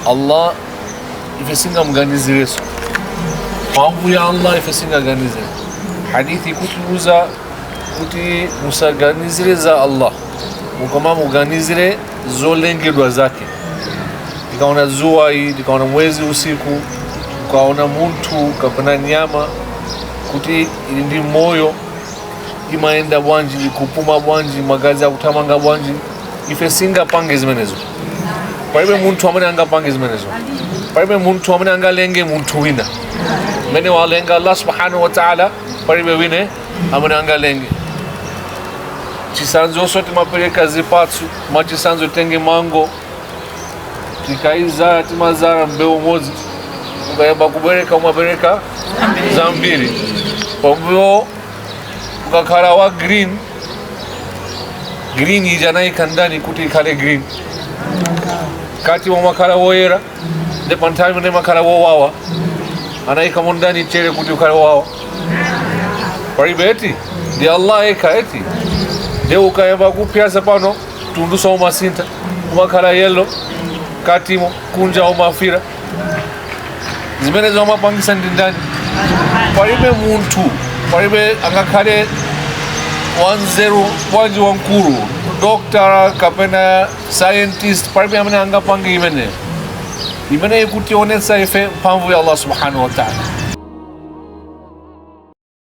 Allah ife singamuganizireso mphamvu ya Allah ife singaganizire hadithi ikutiuza kuti musaganizire za Allah mukoma muganizire zolengedwa zake tikaona zuwa ili tikaona mwezi usiku ukaona munthu kapena nyama kuti ili ndi moyo imayenda bwanji ikupuma bwanji magazi akuthamanga bwanji ife singapange zimenezo palibe munthu amene angapange zimenezo palibe munthu amene angalenge munthu wina mmene walenga allah subhanahu wa taala palibe wina amene angalenge chisanzonso timapereka zipatso mwachisanzo titenge mango tikayizala timazala mbewu imodzi ukayamba kubereka umabereka zambiri pambuyo ukakhala wa green green ija anayika ndani kuti ikhale green katimo umakhala woyera nde pa nthawi imene imakhala wowawa anayikamo ndani chere kuti ukhale wowawa palibe eti ndi allah yekha eti nde ukayamba kupyasa pano mtunduso umasintha umakhala yellow katimo kunja umafira zimenezo amapangisa ndi ndani palibe munthu palibe angakhale wanzeru bwanji wamkulu doctor kapena scientist palibe amene angapange imeneyo imene ikutionetsa ife mphamvu ya allah subhanahu wa taala